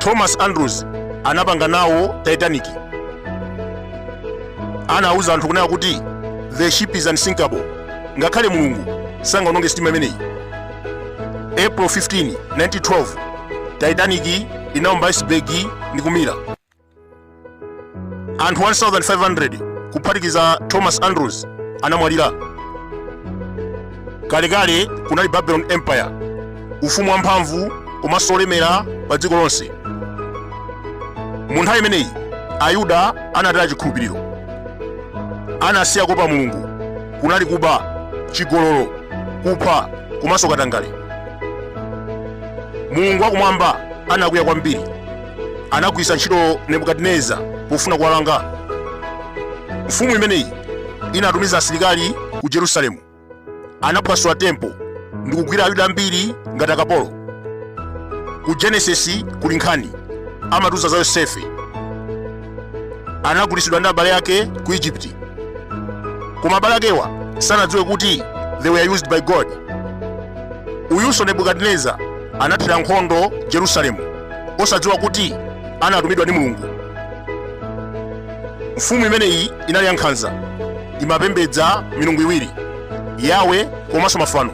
thomas andrews anapanga nawo titanic anauza anthu kunena kuti the ship is unsinkable ngakhale mulungu sangaononge sitima imeneyi april 15 1912 titanic inaomba iceberg ndi kumira anthu 1500 kuphatikiza thomas andrews anamwalira kalekale kunali babylon empire ufumu wamphamvu komanso olemera pa dziko lonse mu nthawi imeneyi ayuda anataya chikhulupiriro anasiya kuopa mulungu kunali kuba, chigololo, kupha komanso katangale. Mulungu wakumwamba anakwiya kwambiri. Anagwiritsa ntchito Nebukadineza pofuna kuwalanga. Mfumu imeneyi inatumiza asilikali ku Jerusalemu. Anaphwasula tempo ndi kugwira Ayuda ambiri ngati akapolo. Ku Genesis kuli nkhani amatiuza za Yosefe anagulitsidwa ndi abale ake ku egypt koma abale akewa sanadziwe kuti they were used by god uyunso nebukadineza anathira nkhondo jerusalemu osadziwa kuti anatumidwa ndi mulungu mfumu imeneyi inali yankhanza imapembedza milungu iwiri yawe komanso mafano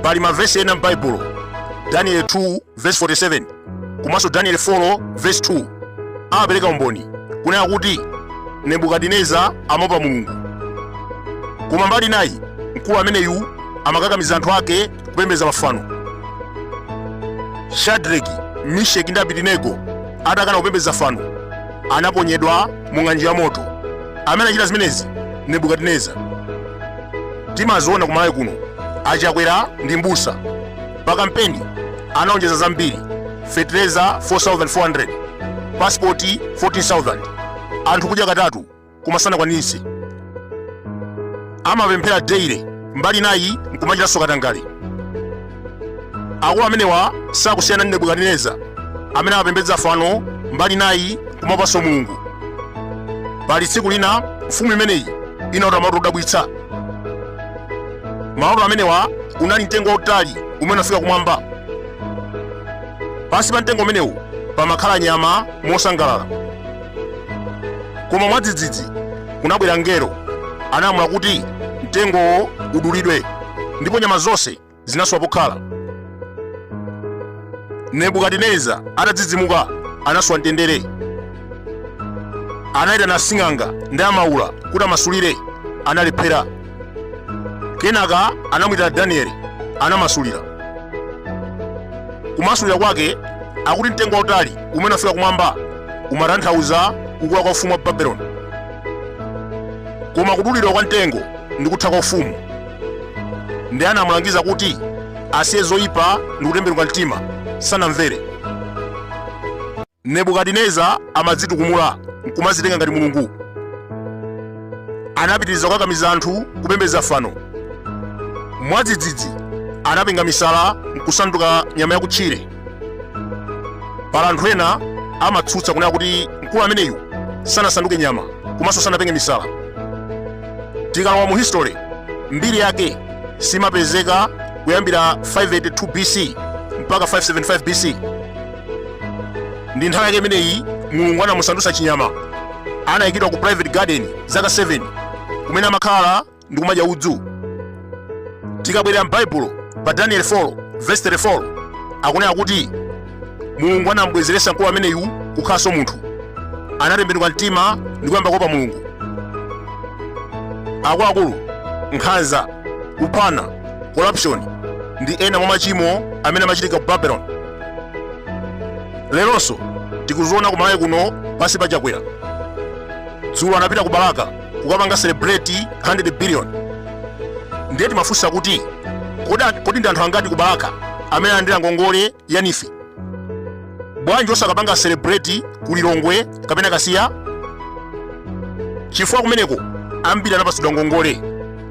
pali mavesi ena m'baibulo daniel 2 verse 47 komanso danieli 4 vesi 2 amapereka umboni kunena kuti nebukadineza amaopa mulungu koma mbali inayi mkulu ameneyu amakakamiza anthu ake kupembedza mafano shadraki misheki ndi abidinego atakana kupembedza fano anaponyedwa mu ng'anjo ya moto amene anachita zimenezi nebukadineza timaziona kumalawi kuno achakwera ndi mbusa pa kampeni analonjeza zambiri fetereza 4400 pasipoti 14000 anthu kudya katatu koma sanakwaniritse amapemphera daily mbali inayi nkumachitanso katangale akulu amenewa sakusiyana ndi nebukadineza amene amapembedza fano mbali inayi kumaopanso mulungu pali tsiku lina mfumu imeneyi inalota maloto odabwitsa Maloto amenewa unali mtengo wautali umene unafika kumwamba. Pansi pa mtengo umenewu pamakhala nyama mosangalala. Koma mwadzidzidzi kunabwera mngelo analamula kuti mtengowo udulidwe ndipo nyama zonse zinasowa pokhala. Nebukadineza atadzidzimuka anasowa mtendere. Anayitana asing'anga ndi amaula kuti amasulire, analephera. Kenaka anamwitana Danieli, anamasulira. Kumasulira kwake akuti mtengo wautali umene unafika kumwamba umatanthauza kukula kwa ufumu wa Babeloni, koma kudulidwa kwa mtengo ndi kutha kwa ufumu. ndiye anamulangiza kuti asiye zoyipa ndi kutembenuka mtima sanamvere nebukadineza amadzitukumula nkumazitenga ngati mulungu anapitiriza kukakamiza anthu kupembedza fano mwadzidzidzi anapenga misala nkusanduka nyama yakutchire pali anthu ena amatsutsa kunena kuti mkulu ameneyu sanasanduke nyama komanso sanapenge misala tikalowa mu history mbiri yake simapezeka kuyambira 582 bc mpaka 575 bc ndi nthawi yake imeneyi mulungu anamusandutsa chinyama anayikidwa ku private garden zaka 7 kumene amakhala ndi kumadya udzu tikabwerera m'baibulo pa daniel 4 verse 34 akunena kuti mulungu anamubwezeretsa mkulu ameneyu kukhalanso munthu anatembenuka mtima ndi kuyamba kuopa mulungu akuluakulu nkhanza kuphana corruption ndi ena mwa machimo amene amachitika ku babeloni leronso tikuziona kumalawi kuno pansi pa chakwera dzulo anapita ku balaka kukapanga celebrate 100 billion ndiye timafunsa kuti kodi ndi anthu angati ku balaka amene alandira ngongole ya neef bwanji osakapanga celebrate ku lilongwe kapena kasiya chifukwa kumeneko ambiri anapatsidwa ngongole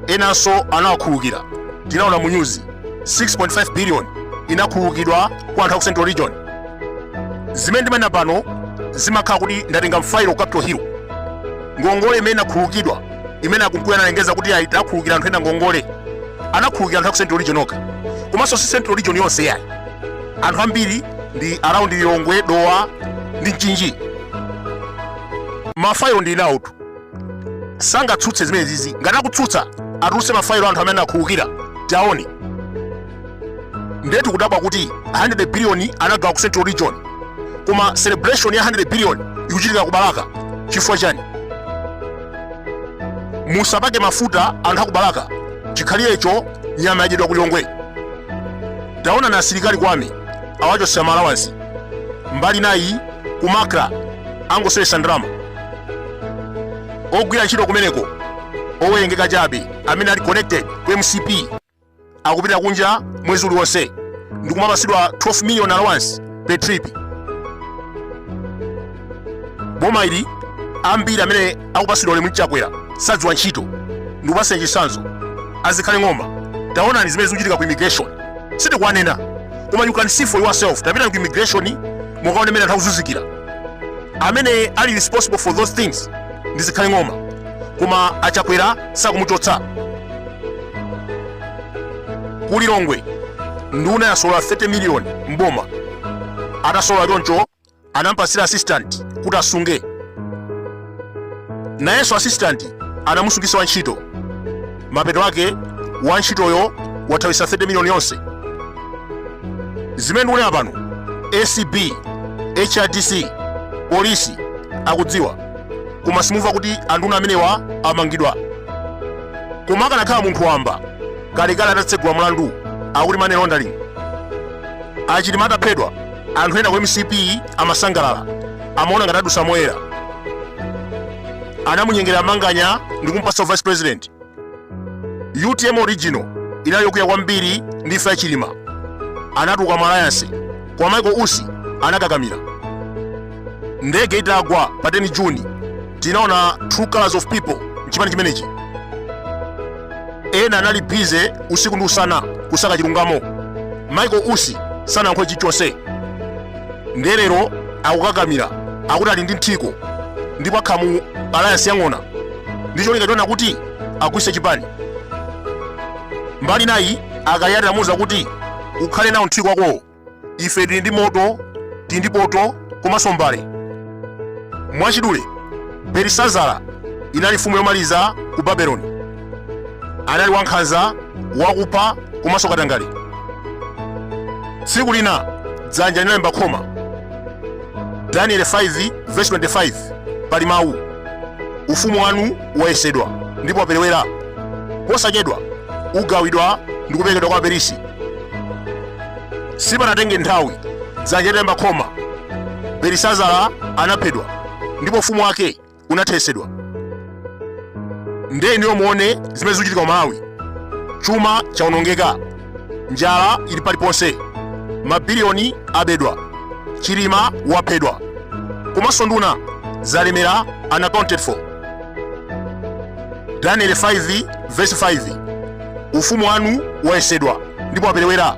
enanso anawakhululukira tinaona mu nyuzi 6.5 billion inakhululukidwa kwa anthu a ku central region zimene ndimanena pano zimakhala kuti ndatenga mafailo ku capital hill ngongole imene inakhululukidwa imene a mkuluyu analengeza kuti ayi takhululukira anthu ena ngongole anakhululukira anthu a ku central region okha komanso si central region yonse yayi anthu ambiri ndi around lilongwe dowa ndi mchinji mafailo ndili nawotu sangatsutse zimenezizi ngati akutsutsa atulutse mafailo anthu amene anakhululukira tione ndetu kudabwa kuti 100 billion anagawa ku central region koma celebration ya 100 billion ikuchitika ku balaka chifukwa chani musapake mafuta anthu akubalaka chikhalirecho nyama yadyedwa ku lilongwe taonani asilikali kwame awachotsera maalawansi mbali inayi ku macra angoseweretsa ndalama ogwira ntchito kumeneko owerengeka chabe amene ali connected ku mcp akupita kunja mwezi uliwonse ndikumapasidwa 12 million allowance per trip boma ili ambiri amene akupasidwa ulemu ndi chakwera sadziwa ntchito ndikupasani chisanzo azikhale ng'oma taonani zimene zikuchitika ku immigration sitikuwanena koma you can see for yourself tapitani ku immigration mukaone mene anthu akuzunzikira amene ali responsible for those things ndi zikhale ng'oma koma achakwera sakumuchotsa ku lilongwe nduna yasolola 30 miliyoni mboma atasolola choncho anampasira assistant kuti asunge nayenso assistant anamusungisa wantchito mapeto ake wantchitoyo wathawisa 30 miliyoni yonse zimene ndikunena pano acb hrdc polisi akudziwa koma simumva kuti anduna amenewa amangidwa koma akanakhala munthu wamba kalekale atatsegula mlandu akuti money laundering achilima ataphedwa anthu ena ku mcp amasangalala amaona ngati adusa moyera anamunyengera manganya ndi kumpasa vice president utm original inali yokwiya kwambiri ndi imfa ya chilima anatuluka mu alliance koma michael usi anakakamira ndege itagwa pa 10 juni tinaona true colors of people mchipani chimenechi ena anali bize usiku ndi usana kusaka chilungamo michael usi sanayankhule chilichonse ndiye lero akukakamira akuti ali ndi mthiko ndipo akhala mu alliance yang'ona ndi cholinga chonena kuti agwise chipani mbali inayi akaliati amuuza kuti ukhale nawo mthiko wakowo ife tili ndi moto tili ndi poto komanso mbale mwachidule belisazara inali mfumu yomaliza ku babeloni anali wankhanza wakupha komanso katangale tsiku lina dzanja linalemba khoma danieli 5 vesi 25 pali mawu ufumu wanu wayesedwa ndipo waperewera posachedwa ugawidwa ndi kuperekedwa kwa aperisi sipanatenge nthawi dzanja litalemba khoma belisazara anaphedwa ndipo ufumu wake unathesedwa nde inuyo muone zimene zikuchitika ku malawi chuma chaonongeka njala ili paliponse mabiliyoni abedwa chilima waphedwa komanso nduna zalemera unaccounted for daniel 5 verse 5 ufumu wanu wayesedwa ndipo waperewera